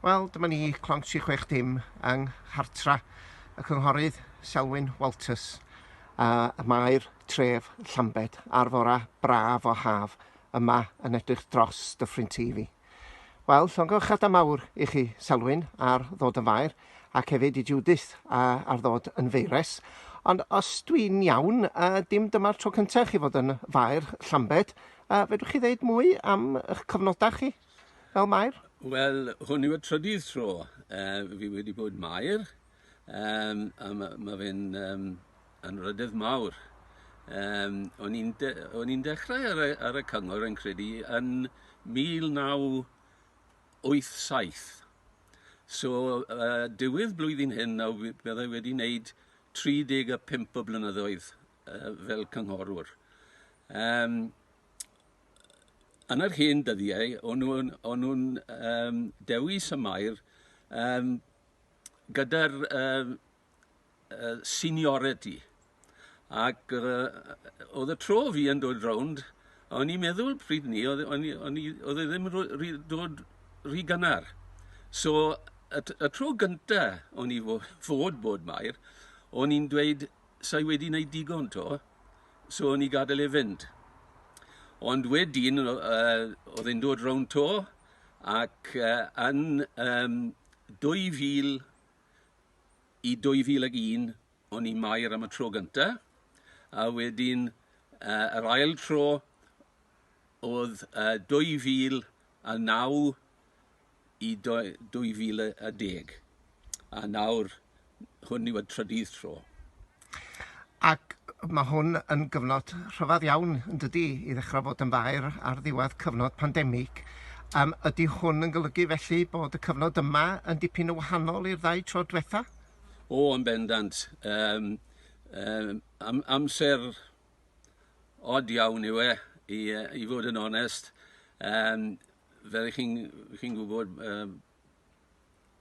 Wel, dyma ni, Clonc 360 yng nghartra y Cynghorydd Selwyn Walters, a y mae'r tref Llambed ar fora braf o haf yma yn edrych dros Dyffryn TV. Wel, llongyfarchiadau mawr i chi, Selwyn, ar ddod yn faer, ac hefyd i Judith a, ar ddod yn feires. Ond os dwi'n iawn, a, dim dyma'r tro cyntaf chi fod yn faer Llambed, a, fedrwch chi ddeud mwy am eich cyfnodau chi? Fel Mair? Wel, hwn yw y trydydd tro uh, fi wedi bod Mair, um, a mae ma fe'n um, anrhydedd mawr. Um, o'n i'n de, dechrau ar y, ar y cyngor yn credu yn 1987. So, uh, diwedd blwyddyn hyn, nawr byddai wedi wneud 35 o blynyddoedd uh, fel cynghorwr. Um, yn yr hen dyddiau, o'n nhw'n o'n nhw'n yym dewis y Mair yym gyda'r yym yy seniority ac yy yy o'dd y tro fi yn dod rownd o'n i'n meddwl pryd 'ny o'dd o'n i o'n i o'dd e ddim ro- ry- dod rhy gynnar so y t- y tro gynta o'n i fo- fod bod Mair o'n i'n dweud 'sai wedi wneud digon 'to, so o'n i gadael e fynd. Ond wedyn, oedd e'n dod rownd 'to, ac yn 2000 i 2001, o'n i Mair am y tro gynta', a wedyn yr ail tro oedd 2009 i 2010 a nawr hwn yw y trydydd tro. Ac mae hwn yn gyfnod rhyfedd iawn yn dydi i ddechrau fod yn faer ar ddiwedd cyfnod pandemig. Yym ydy hwn yn golygu felly bod y cyfnod yma yn dipyn yn wahanol i'r ddau tro diwetha? O yn bendant. Yym yym am- amser od iawn yw e i yy i fod yn onest. Yym. Fel y'ch chi'n chi'n gwybod yym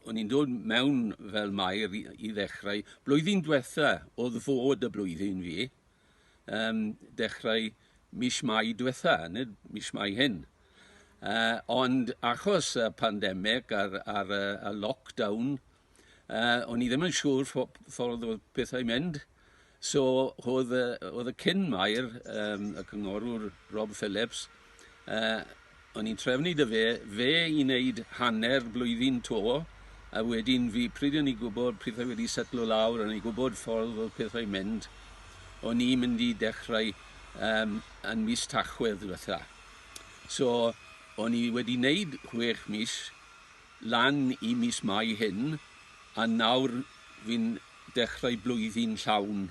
o'n i'n dod mewn fel Mair i i ddechrau. Blwyddyn diwetha' o'dd fod y blwyddyn fi, yym dechrau mis Mai diwetha', nid mis Mai hyn. Yy ond achos y pandemig a'r a'r yy y lockdown Yy o'n i ddim yn siŵr ffo- ffordd o'dd pethau'n mynd so o'dd yy o'dd y cyn Mair yym y cynghorwr Rob Phillips yy o'n i'n trefnu 'dy fe fe i neud hanner blwyddyn 'to a wedyn fi pryd o'n i gwbod pethau wedi setlo lawr o'n i gwbod ffordd o'dd pethau'n mynd o'n i mynd i dechrau yym yn mis Tachwedd dwetha so o'n i wedi neud chwech mis lan i mis Mai hyn a nawr fi'n dechrau blwyddyn llawn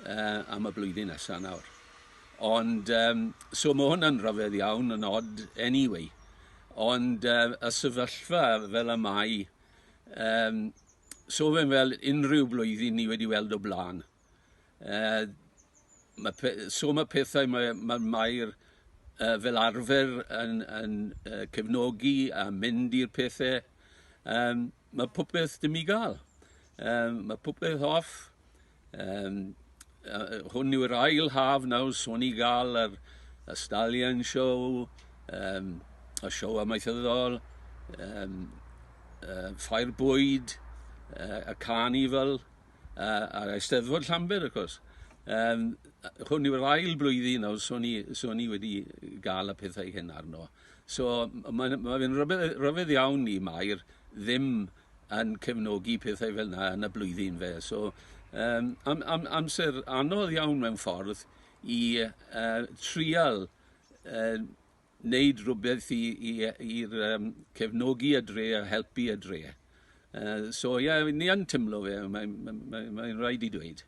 yy am y blwyddyn nesa nawr. Ond yym so ma' hwnna'n rhyfedd iawn yn od anyway ond yy y sefyllfa fel y mae yym so fe'n fel unrhyw blwyddyn ni wedi weld o bla'n. Yy ma' pe- yy so ma' pethau mae yy ma' Mair yy fel arfer yn yn yy cefnogi a mynd i'r pethe yym ma' popeth dim i ga'l. Yym ma' popeth off yym yy yy hwn yw'r ail haf nawr so ni ga'l yr y Stallion Show yym y sioe amaethyddol yym yy Ffair Bwyd yy y carnival. uh, a'r Eisteddfod Llanber, wrth gwrs. Um, hwn yw'r ail blwyddyn nawr, so ni, so ni wedi gael y pethau hyn arno. So mae'n ma fe'n rhyfedd, rhyfedd iawn i Mair ddim yn cefnogi pethau fel yna yn y blwyddyn fe. So um, am, am, amser anodd iawn mewn ffordd i uh, trial uh, wneud rhywbeth i i yy i'r yym cefnogi y dre a helpu y dre. Yy so ie ni yn timlo fe mae'n mae'n mae'n mae'n raid i dweud.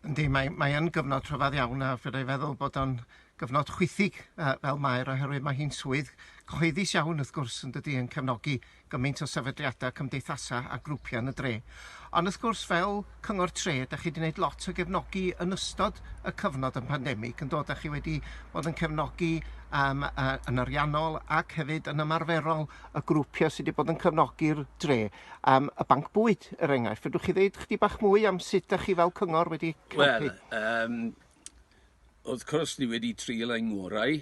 Yndi mae mae yn gyfnod rhyfadd iawn a fyddai feddwl bod o'n gyfnod chwithig yy fel Mair oherwydd mae hi'n swydd cyhoeddus iawn wrth gwrs yndydi yn cefnogi gymaint o sefydliadau, cymdeithasau a grwpiau yn y dre. Ond wrth gwrs, fel Cyngor Tre, da chi wedi gwneud lot o gefnogi yn ystod y cyfnod yn pandemig, yn dod, da chi wedi bod yn cefnogi um, uh, yn ariannol ac hefyd yn ymarferol y grwpiau sydd wedi bod yn cefnogi'r dre. Um, y banc bwyd, er enghraifft, fedrwch chi ddeud chdi bach mwy am sut da chi fel cyngor wedi helpu? Wel, um, wrth cwrs ni wedi trial ein ngorau,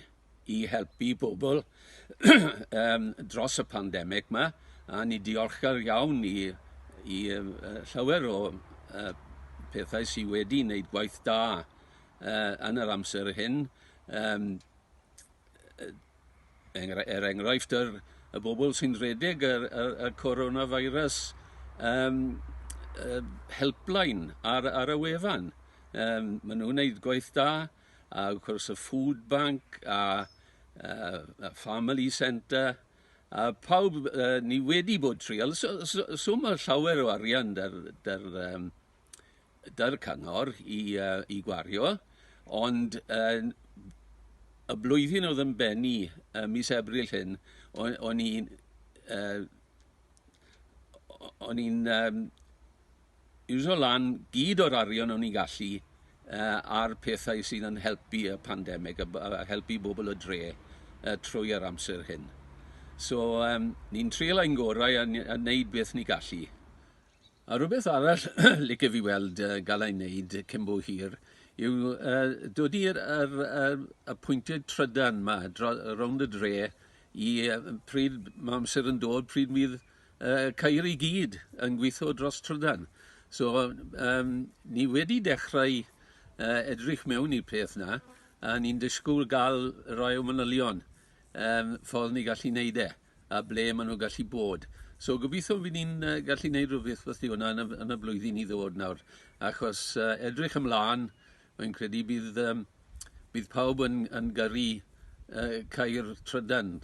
i helpu bobl um, dros y pandemig yma, a ni diolchgar iawn i, i uh, llawer o uh, pethau sydd wedi wneud gwaith da uh, yn yr amser hyn. Um, er enghraifft, yr, y bobl sy'n rhedeg y, y, y coronavirus um, uh, helpline ar, ar y wefan. Um, maen nhw'n gwneud gwaith da. A wrth gwrs y food bank a yy y family centre a pawb yy ni wedi bod trial so so so ma' llawer o arian dy'r dy'r yym dy'r cyngor i yy i gwario ond yn y blwyddyn o'dd yn bennu yy mis Ebrill hyn o- o'n i'n yy o- o'n i'n yym iwsio lan gyd o'r arian o'n ni'n gallu ar pethau sydd yn helpu y pandemig a helpu bobl y dre trwy yr amser hyn. So, um, ni'n trial ein gorau a, a wneud beth ni gallu. A rhywbeth arall licio fi weld uh, gael ei wneud cyn bo hir yw uh, dod i'r er, er, y pwyntiau trydan yma, rownd y dre, i uh, pryd mae amser yn dod, pryd fydd yy ceir i gyd yn gweithio dros trydan. So yym ni wedi dechrau yy edrych mewn i'r peth 'na a ni'n disgwyl ga'l rai o manylion yym ffordd ni gallu neud e a ble ma' nw gallu bod. So gobeithio by' ni'n yy gallu neud rwbeth wrth 'di hwnna yn y f- yn y blwyddyn i ddod nawr achos yy edrych ymlan rwy'n credu bydd yym bydd pawb yn yn gyrru yy cau'r trydan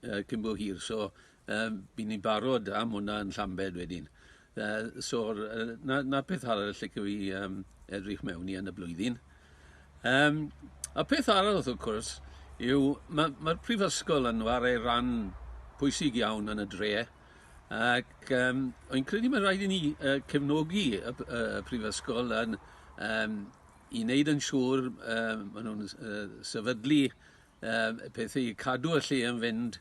yy cyn bo hir so Yy, by' ni'n barod am hwnna yn Llambed wedyn. Yy, so'r yy 'na 'na peth arall lle allai yym edrych mewn i yn y blwyddyn. Yym, a peth arall wrth gwrs yw ma' ma'r prifysgol yn chwarae ran pwysig iawn yn y dre, ac yym wi'n credu ma' raid i ni yy cefnogi y p- yy y prifysgol yn yym i wneud yn siŵr yym ma' nhw'n s- yy sefydlu yy peth i cadw y lle yn fynd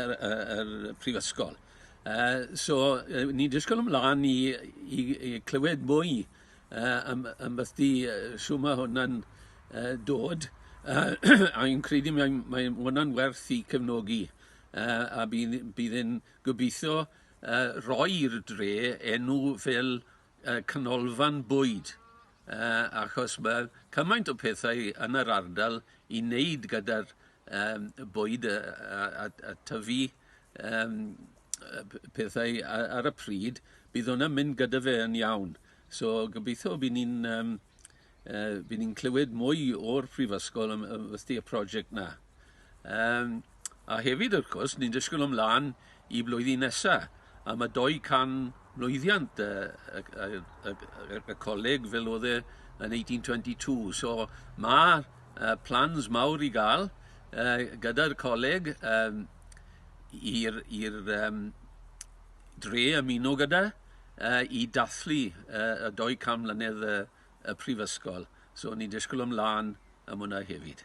yr y yr prifysgol. Yy so yy ni'n disgwyl ymlan i i i clywed mwy yy am ambelldi yy shw ma' hwnna'n yy dod yy a fi'n credu mae mae ma' wnna'n werth 'i cefnogi yy a bydd bydd e'n gobeitho yy roi'r dre enw fel y canolfan bwyd yy achos ma' cymaint o pethau yn yr ardal i neud gyda'r yym y bwyd yy a a a tyfu yym yy p- pethau a- ar y pryd bydd wnna'n mynd gyda fe yn iawn so gobeitho by' ni'n yym Yy by' ni'n clywed mwy o'r prifysgol am am wrthi y project 'na. Yym a hefyd wrth cwrs ni'n disgwl ymlan i blwyddyn nesa a ma' dou can mlwyddiant yy y g- yy y g- yy y y coleg fel o'dd e yn eighteen twenty two so ma' yy plans mawr i ga'l yy gyda'r coleg yym i'r i'r yym dre ymuno gyda. yy i dathlu yy y 200 mlynedd y y prifysgol. So o'n i'n disgwyl ymlan am hwnna hefyd.